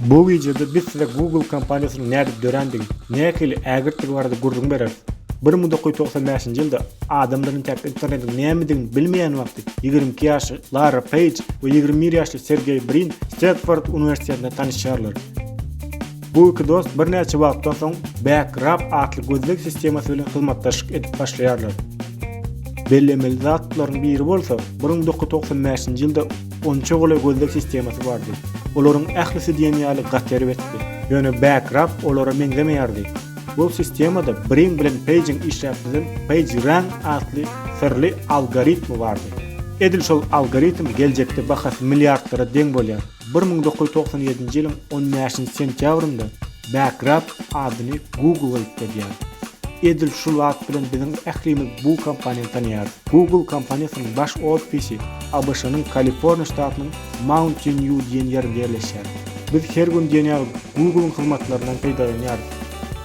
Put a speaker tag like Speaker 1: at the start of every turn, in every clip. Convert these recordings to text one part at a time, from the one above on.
Speaker 1: Bu wideoda biz size Google kompaniýasynyň nädip dörändigi, nähili ägirtdigi barada gürrüň bereris. Bir müň dokuz ýüz togsan bäşinji ýylda adamlar entäk internetiň nämedigini bilmeýän wagty ýigrimi iki ýaşly Larra Peýj we ýigrimi bir ýaşly Sergeý Brin Stedford uniwersitetinde tanyşýarlar. Bu iki dost birnäçe wagtdan soň Backrub atly gözleg sistemasy bilen hyzmatdaşlyk edip başlaýarlar. Bellemeli zatlaryň biri bolsa, bir müň dokuz ýüz togsan bäşinji ýylda Onça goly gözleg sistemasy bardy. Olaryň ählisi diýen ýaly gaty erbetdi. Ýöne Backrub olara meňzemeýärdi. Bu sistemada Brin bilen Peýjiň işläp düzen PageRank atly syrly algoritmi bardy. Edil şol algoritm geljekde bahasy milliardlara deň bolýan bir müň dokuz ýüz togsan ýedinji ýylyň on bäşinji sentýabrynda Backrub adyny Google aýtladýar. Edil şul at bilen biziň ählimiz bu kompaniýany tanaýarys. Google kompaniýasynyň baş ofisi ABŞ-nyň Kaliforniýa ştatynyň Mountain View diýen ýerinde ýerleşýär. Biz her gün diýen ýaly Google-yň hyzmatlaryndan peýdalanýarys.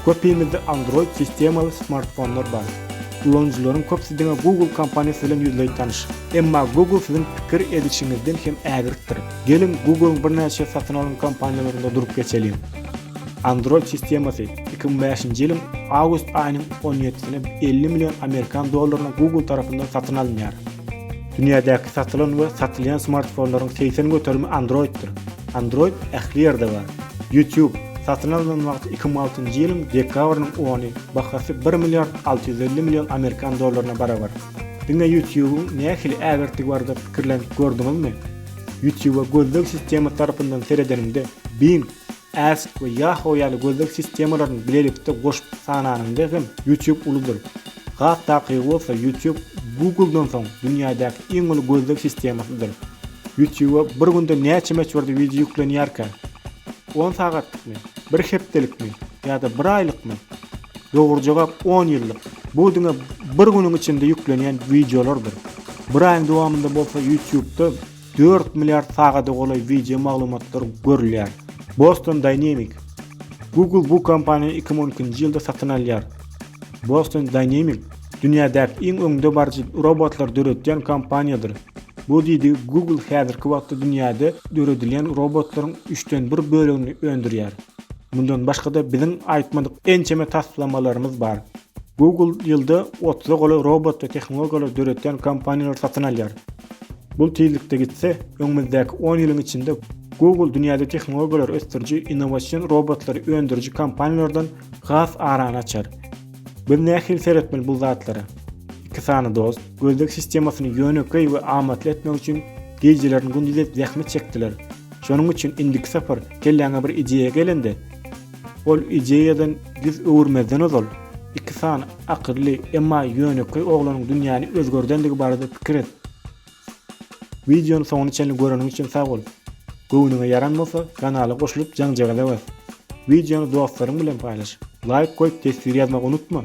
Speaker 1: Köpimizde Android sistemaly smartfonlar bar. Ulanyjylaryň köpüsi diňe Google kompaniýasy bilen ýüzleý tanyş. Emma Google siziň pikir edişiňizden hem ägirtdir. Geliň Google-yň birnäçe satyn alan kompaniýalarynda durup geçeliň. Android sistemasy iki müň bäşinji ýylyň awgust aýynyň on ýedisine elli million amerikan dollaryna Google tarapyndan satyn alynýar. Dünýädäki satylan we satylýan smartfonlaryň segsen göterimi Android-dir. Android ähli ýerde bar. YouTube satyn alnan wagty iki müň altynjy ýylyň dekabrynyň ony bahasy bir milliard alty ýüz elli million amerikan dollaryna barabar. Diňe YouTube-yň nähili ägirtdigi barada pikirlenip gördüňizmi? Ýutube gözleg sistemasy tarapyndan seredeniňde, Bing, Ask we Yahoo ýaly gözleg sistemalaryny bilelikde goşup sananyňda hem Ýutube uludyr. Has takygy bolsa Ýutube Google-dan soň dünýädäki iň uly gözleg sistemasydyr. Ýutuba bir günde näçe möçberde wideo ýüklenýärkä? On sagatlykmy? Bir hepdelikmi? Ýa-da bir aýlykmy? Dogry jogap on ýyllyk. Bu diňe bir günüň içinde ýüklenýän wideolardyr. Bir aýyň dowamynda bolsa YouTube-da dört milliard sagada golaý wideo maglumatlar görülýär. Boston Dynamic Google bu kompaniýany 2012-nji ýylda satyn alýar. Boston Dynamic dünýädäki iň öňdebaryjy robotlary döredýän kompaniýadyr. Bu diýdi Google häzirki wagtda dünýäde döredilýän robotlaryň üçden bir bölegini öndürýär. Mundan başga-da biziň aýtmadyk ençeme taslamalarymyz bar. Google ýylda otuza golaý robot we tehnologiýalary döredýän kompaniýalary satyn alýar. Bu tizlikde gitse, öňümizdäki on ýylyň içinde Google dünýäde tehnologiýalary ösdüriji innowasion robotlary öndüriji kompaniýalardan has arany açar. Biz nähili seretmeli bu zatlara? Iki sany dost, gözleg sistemasyny ýönekeý we amatly etmek üçin gijelerini gündiz edip zähmet çekdiler. Şonuň üçin indiki sapar kelläňe bir ideýa gelende, Ol ideýadan ýüz öwürmezden ozal, iki sany akylly, emma ýönekeý oglanyň dünýäni özgerdendigi barada pikir et. Wideony soňuna çenli göreniň üçin sag bol. Göwnüňe ýaran bolsa, kanala goşulyp jaňjagaza bas. Wideony dostlaryň bilen paýlaş. Laýk goýup teswir ýazmagy unutma.